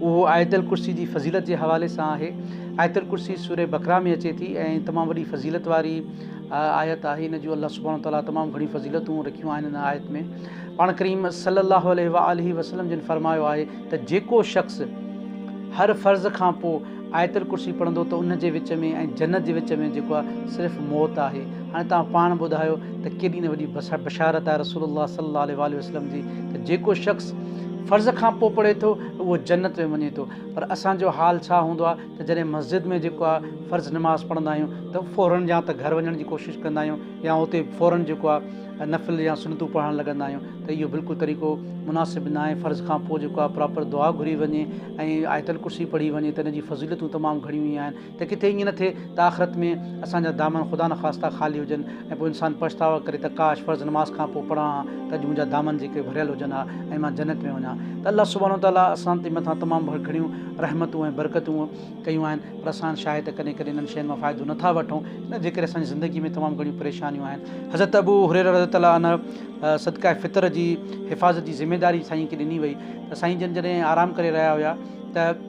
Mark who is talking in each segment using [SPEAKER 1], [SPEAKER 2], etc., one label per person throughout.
[SPEAKER 1] اهو آيت الڪرسي جي فضيلت جي حوالي سان آهي. آيت الڪرسي سوره بقره ۾ اچي ٿي ۽ تمام وڏي فضيلت واري آيت آهي. ان جون الله سبحانه وتعاليٰ تمام گهڻيون فضيلتون رکيون آهن ان آيت ۾ پاڻ ڪريم صلّي الله عليه واٰله وسلّم جن فرمايو آهي ته جيڪو شخص هر فرض کان پوء آيت الڪرسي پڙهندو ته ان جي وچ ۾ ۽ جنت جي وچ ۾ جيڪو آهي صرف موت آهي هاڻي توهان پاڻ ٻڌايو ته ڪيڏي نه وڏي بشارت آهي رسول الله صلي الله عليه واٰله وسلم جي ته جيڪو شخص فرض کان پوء پڙهي ٿو اهو جنت ۾ وڃي ٿو پر اسان جو حال ڇا هوندو آهي ته جڏهن مسجد ۾ جيڪو آهي فرض نماز پڙهندا آهيون ته فورن يا ته گهر وڃڻ جي ڪوشش ڪندا آهيون يا اتي فورن جيڪو آهي نفل يا سنتون پڙهڻ لڳندا آهيون ته اهو بلڪل طريقو مناسب ناهي فرض کان پوء جيڪو آهي پراپر دعا گهري وڃي ۽ آيت الڪرسي پڙهي وڃي ته ان جي فضيلتون تمام گهڻيون ئي آهن ته ڪٿي ائين نه ٿئي ته آخرت ۾ اسان جا دامن خدا نخواسته خالي هجن ۽ پوء انسان پڇتاء ڪري ته ڪاش فرض نماز کان پوء پڙهان ها ته اڄ منهنجا دامن جيڪي ڀريل هجن ها ۽ مان جنت ۾ وڃان ته الله سبحانه وتعاليٰ اسان جي مٿان تمام گهڻيون رحمتون ۽ برڪتون ڪيون آهن پر اسان شاهه ته ڪڏهن ڪڏهن انهن شين مان فائدو نه ٿا وٺون ان جي ڪري اسان جي زندگي ۾ تمام گهڻيون پريشانيون آهن حضرت ابو هريره رضي الله عنه صدقه فطر جي حفاظت جي ذميداري سائين کي ڏني وئي ته سائين جن جڏهن آرام ڪري رهيا هيا ته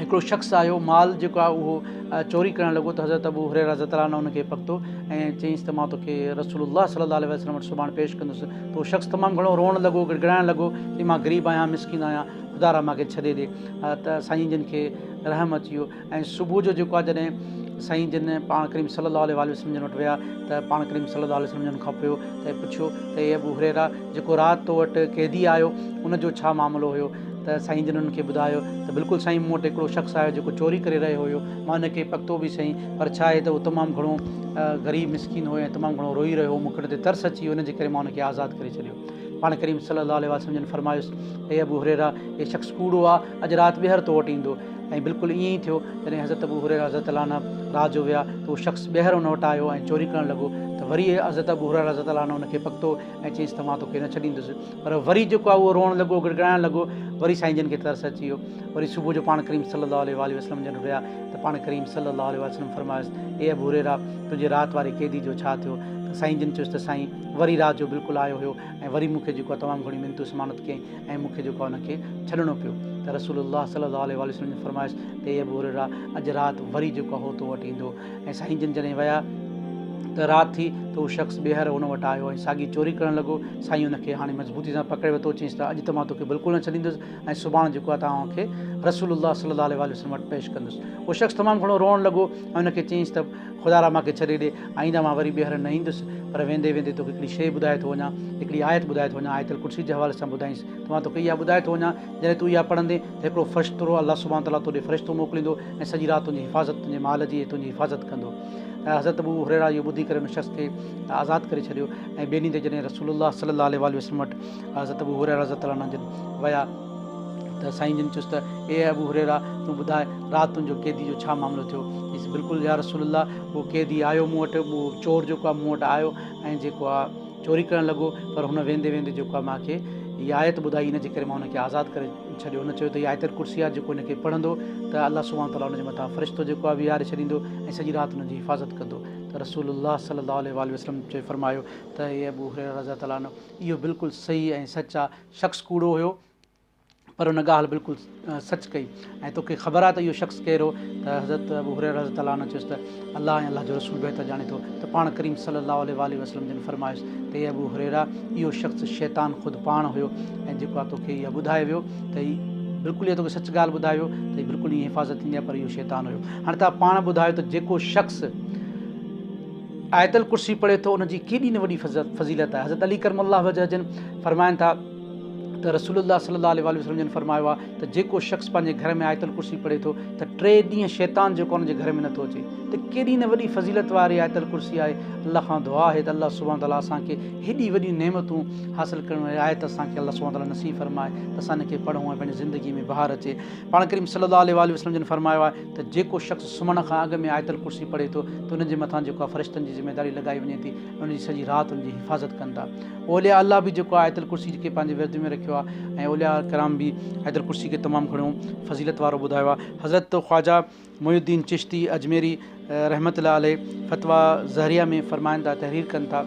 [SPEAKER 1] هڪڙو شخص آيو مال جيڪو آهي اهو چوري ڪرڻ لڳو ته حضرت ابو هريره رضي الله عنه ان کي پڪتو ۽ چيس ته مان توکي رسول الله صلي الله عليه وسلم وٽ سڀاڻ پيش ڪندس ته اهو شخص تمام گهڻو روئڻ لڳو گڙگڙائڻ لڳو چي مان غريب آهيان مسڪين آهيان خدا رحمان کي ڇڏي ڏي ته سائين جن کي رحم اچي ويو ۽ صبح جو جيڪو آهي جڏهن سائين جن پاڻ ڪريم صلي الله عليه وسلم جن وٽ ويا ته پاڻ ڪريم صلي الله عليه وسلم جن کان پيو ته پڇيو ته اي ابو هريرا جيڪو رات تو وٽ قيدي آيو ان جو ڇا معاملو هيو ته سائين جن انهن کي ٻڌايو ته بلڪل سائين مون وٽ هڪڙو شخص آيو جيڪو چوري ڪري رهيو هيو مان ان کي پڪتو به سهي پر ڇا آهي ته هو تمام گهڻو غريب مسڪين هو ۽ تمام گهڻو روئي رهيو هو مون کي ان تي ترس اچي ويو ان جي ڪري مان ان کي آزاد ڪري ڇڏيو پاڻ ڪريم صلّي اللّٰه عليه وسلّم جن فرمايس، اي ابو هريره! هي شخص ڪوڙو آ، اڄ رات ٻيهر تو وٽ ايندو. ۽ بلڪل ائين ئي ٿيو. جڏهن حضرت ابو هريره رضي الله عنه رات جو ويا ته اهو شخص ٻيهر ان وٽ آيو ۽ چوري ڪرڻ لڳو ته وري حضرت ابو هريره رضي الله عنه ان کي پڪتو ۽ چيس ته مان توکي نه ڇڏيندس. پر وري جيڪو آ اهو روئڻ لڳو، گڙگڙائڻ لڳو. وري سائين جن کي ترس اچي ويو. وري صبح جو پاڻ ڪريم صلّي اللّٰه عليه واٰله وسلّم جن وٽ ويا ته پاڻ ڪريم صلّي اللّٰه عليه وسلّم فرمايس، اي ابو هريره! تنهنجي رات واري قيدي جو ڇا ٿيو؟ ته سائين جن چيس ته سائين! وري رات جو بلڪل آيو هيو ۽ وري مون کي جيڪو آهي تمام گهڻي منت و سماڻت ڪيائين ۽ مون کي جيڪو آهي ان کي ڇڏڻو پيو ته رسول الله صلي الله عليه واٰله وسلم جي فرمائش ته اي ابو هريره اڄ رات وري جيڪو آهي هو تو وٽ ايندو ۽ سائين جن جڏهن ويا ته رات ٿي ته هو شخص ٻيهر هن وٽ آيو ۽ ساڳي چوري ڪرڻ لڳو سائين ان کي هاڻي مضبوطي سان پڪڙي ورتو چيائينس ته اڄ ته مان توکي بلڪل نه ڇڏيندس ۽ سڀاڻ جيڪو آهي توهان کي رسول الله صلي الله عليه واٰله وسلم وٽ پيش ڪندس هو شخص تمام گهڻو روئڻ لڳو ۽ ان کي چيائينس ته خدا را مانکي ڇڏي ڏي، آئنده مان وري ٻيهر نه ايندس، پر ويندي ويندي توکي هڪڙي شيء ٻڌائي ٿو وڃان، هڪڙي آيت ٻڌائي ٿو وڃان، آيت الڪرسي جي حوالي سان ٻڌائينس ته مان توکي اها ٻڌائي ٿو وڃان، جڏهن تون اها پڙهندين ته هڪڙو فرشترو، الله سبحانه وتعاليٰ، تو ڏي فرشتو موڪليندو ۽ سڄي رات تنهنجي حفاظت، تنهنجي مال جي ۽ تنهنجي حفاظت ڪندو. ته حضرت ابو هريره اهو ٻڌي ڪري ان شخص کي آزاد ڪري ڇڏيو ۽ ٻئي ڏينهن تي جڏهن رسول الله صلّي الله عليه واٰله وسلّم وٽ حضرت ابو هريره رضي الله عنه جن ويا، ته سائين جن چيس ته اي ابو هريره! تون ٻڌاء رات تنهنجو قيدي جو ڇا معاملو ٿيو؟ چيس بلڪل يا رسول الله! اهو قيدي آيو مون وٽ، اهو چور جيڪو آهي مون وٽ آيو ۽ جيڪو آهي چوري ڪرڻ لڳو پر هن ويندي ويندي جيڪو آهي مان کي هي آيت ٻڌائي ان جي ڪري مان هن کي آزاد ڪري ڇڏيو. هن چيو ته هي آيت الڪرسي آهي جيڪو هن کي پڙهندو ته الله سبحانه وتعاليٰ ان جي مٿان فرشتو جيڪو آهي ويهاري ڇڏيندو ۽ سڄي رات ان جي حفاظت ڪندو ته رسول الله صلي الله عليه واٰله وسلم چئي فرمايو ته اي ابو هريره رضي الله تعالٰي عنه! اهو بلڪل صحيح ۽ سچ آهي شخص ڪوڙو هيو پر ان ڳالهه بلڪل سچ ڪئي ۽ توکي خبر آهي ته اهو شخص ڪير هو ته حضرت ابو هريره رضي الله عنه چيس ته الله ۽ الله جو رسول بهتر ڄاڻي ٿو ته پاڻ ڪريم صلي الله عليه واٰله وسلم جن فرمايس ته اي ابو هريره اهو شخص شيطان خود پاڻ هيو ۽ جيڪو آ توکي اهو ٻڌايو ويو ته هي بلڪل اهو توکي سچ ڳالهه ٻڌايو ويو ته هي بلڪل ائين حفاظت ٿيندي آهي پر اهو شيطان هيو هاڻي توهان پاڻ ٻڌايو ته جيڪو شخص آيت الڪرسي پڙهي ٿو ان جي ڪيڏي نه وڏي فضيلت آهي حضرت علي ڪرم الله وجه جن فرمائن ٿا ته رسول الله صلي الله عليه وسلم جن فرمايو آهي ته جيڪو شخص پنهنجي گهر ۾ آيت الڪرسي پڙهي ٿو ته ٽي ڏينهن شيطان جيڪو ان جي گهر ۾ نٿو اچي ته ڪيڏي نه وڏي فضيلت واري آيت الڪرسي آهي الله کان دعا آهي ته الله سبحانه تعاليٰ اسان کي هيڏي وڏيون نعمتون حاصل ڪرڻ واري آيت اسان کي الله سبحانه تعاليٰ نصيب فرمائي ته اسان ان کي پڙهون ۽ پنهنجي زندگي ۾ بهار اچي پاڻ ڪريم صلي الله عليه وسلم جن فرمايو آهي ته جيڪو شخص سمهڻ کان اڳ ۾ آيت الڪرسي پڙهي ٿو ته ان جي مٿان جيڪو آهي فرشتن جي ذميداري لڳائي وڃي ٿي ۽ ان جي سڄي رات ان جي حفاظت ڪن ٿا اولياء الله به جيڪو آهي آيت الڪرسي کي پنهنجي ورد ۾ رکيو آهي ۽ اولياء ڪرام به آيت الڪرسي کي تمام گهڻو فضيلت وارو ٻڌايو آهي حضرت خواجه معين الدين چشتي اجميري رحمة الله عليه فتويٰ زهريه ۾ فرمائن ٿا تحرير ڪن ٿا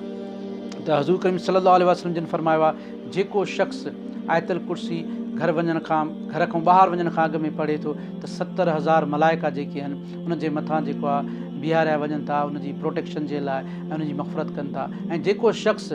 [SPEAKER 1] ته حضور ڪريم صلي الله عليه وسلم جن فرمايو آهي جيڪو شخص آيت الڪرسي گهر وڃڻ کان گهر کان ٻاهر وڃڻ کان اڳ ۾ پڙهي ٿو ته ستر هزار ملائڪا جيڪي آهن ان جي مٿان جيڪو آهي بيهاريا وڃن ٿا ان جي پروٽيڪشن جي لاء ۽ ان جي مغفرت ڪن ٿا ۽ جيڪو شخص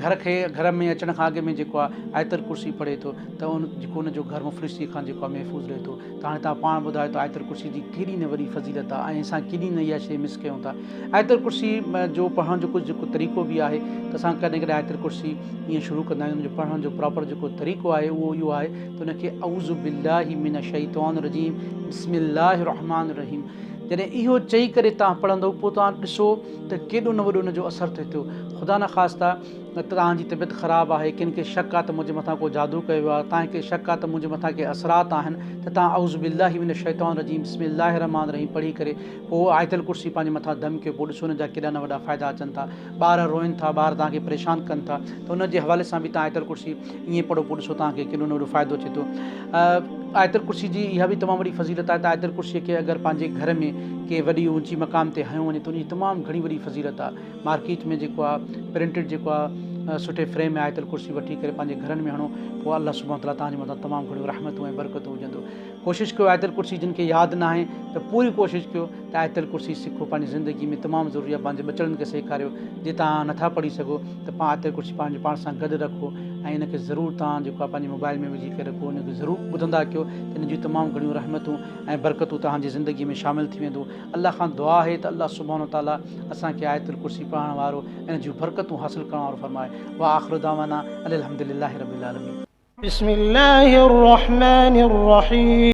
[SPEAKER 1] گهر کي گهر ۾ اچڻ کان اڳ ۾ جيڪو آهي آيت الڪرسي پڙهي ٿو ته ان جيڪو ان جو گهر مفلسي کان جيڪو آهي محفوظ رهي ٿو ته هاڻي توهان پاڻ ٻڌايو ته آيت الڪرسي جي ڪيڏي نه وڏي فضيلت آهي ۽ اسان ڪيڏي نه اها شيء مس ڪيون ٿا. آيت الڪرسي جو پڙهڻ جو ڪجهه جيڪو طريقو به آهي ته اسان ڪڏهن ڪڏهن آيت الڪرسي ائين شروع ڪندا آهيون ان جو پڙهڻ جو پراپر جيڪو طريقو آهي اهو اهو آهي ته ان کي اعوذ بالله من الشيطان الرجيم بسم الله الرحمٰن الرحيم جڏهن اهو چئي ڪري توهان پڙهندو پوء توهان ڏسو ته ڪيڏو نه وڏو ان جو اثر ٿو ٿيو خدا نخواسته نه توهان جي طبيعت خراب آهي، ڪنهن کي شڪ آهي ته منهنجي مٿان ڪو جادو ڪيو آهي، توهان کي شڪ آهي ته منهنجي مٿان ڪي اثرات آهن ته توهان اعوذ بالله من الشيطان الرجيم بسم الله الرحمٰن الرحيم پڙهي ڪري پوء آيت الڪرسي پنهنجي مٿان دم ڪيو پوء ڏسو ان جا ڪيڏا نه وڏا فائدا اچن ٿا. ٻار روئن ٿا، ٻار توهان کي پريشان ڪن ٿا ته ان جي حوالي سان به توهان آيت الڪرسي ائين پڙهو پوء ڏسو توهان کي ڪيڏو نه وڏو فائدو اچي ٿو. آيت الڪرسي جي اها به تمام وڏي فضيلت آهي ته آيت الڪرسي کي اگر پنهنجي گهر ۾ ڪي وڏي اونچي مقام تي هنيو وڃي ته ان جي تمام گهڻي وڏي فضيلت آهي. مارڪيٽ ۾ جيڪو آ پرنٽيڊ جيڪو آ سٺي فريم ۾ آيت الڪرسي وٺي ڪري پنهنجي گهرن ۾ هڻو پوء الله سبحانه وتعاليٰ توهان جي مٿان تمام گهڻيون رحمتون ۽ برڪتون وجهندو ڪوشش ڪيو آيت الڪرسي جن کي ياد ناهي ته پوري ڪوشش ڪيو ته آيت الڪرسي سکو پنهنجي زندگي ۾ تمام ضروري آ پنهنجي ٻچڙن کي سيکاريو جي توهان نٿا پڙهي سگهو ته پا آيت الڪرسي پنهنجي پاڻ سان گڏ رکو ۽ ان کي ضرور توهان جيڪو آ پنهنجي موبائل ۾ وجهي ڪري رکو ان کي ضرور ٻڌندا ڪيو ته ان جون تمام گهڻيون رحمتون ۽ برڪتون توهان جي زندگي ۾ شامل ٿي ويندون الله کان دعا آهي ته الله سبحانه وتعاليٰ اسان کي آيت الڪرسي پڙهڻ وارو ۽ ان جون برڪتون حاصل ڪرڻ وارو فرمائي. واخر دعوانا ان الحمد لله رب
[SPEAKER 2] العالمين.
[SPEAKER 1] بسم الله الرحمن الرحيم.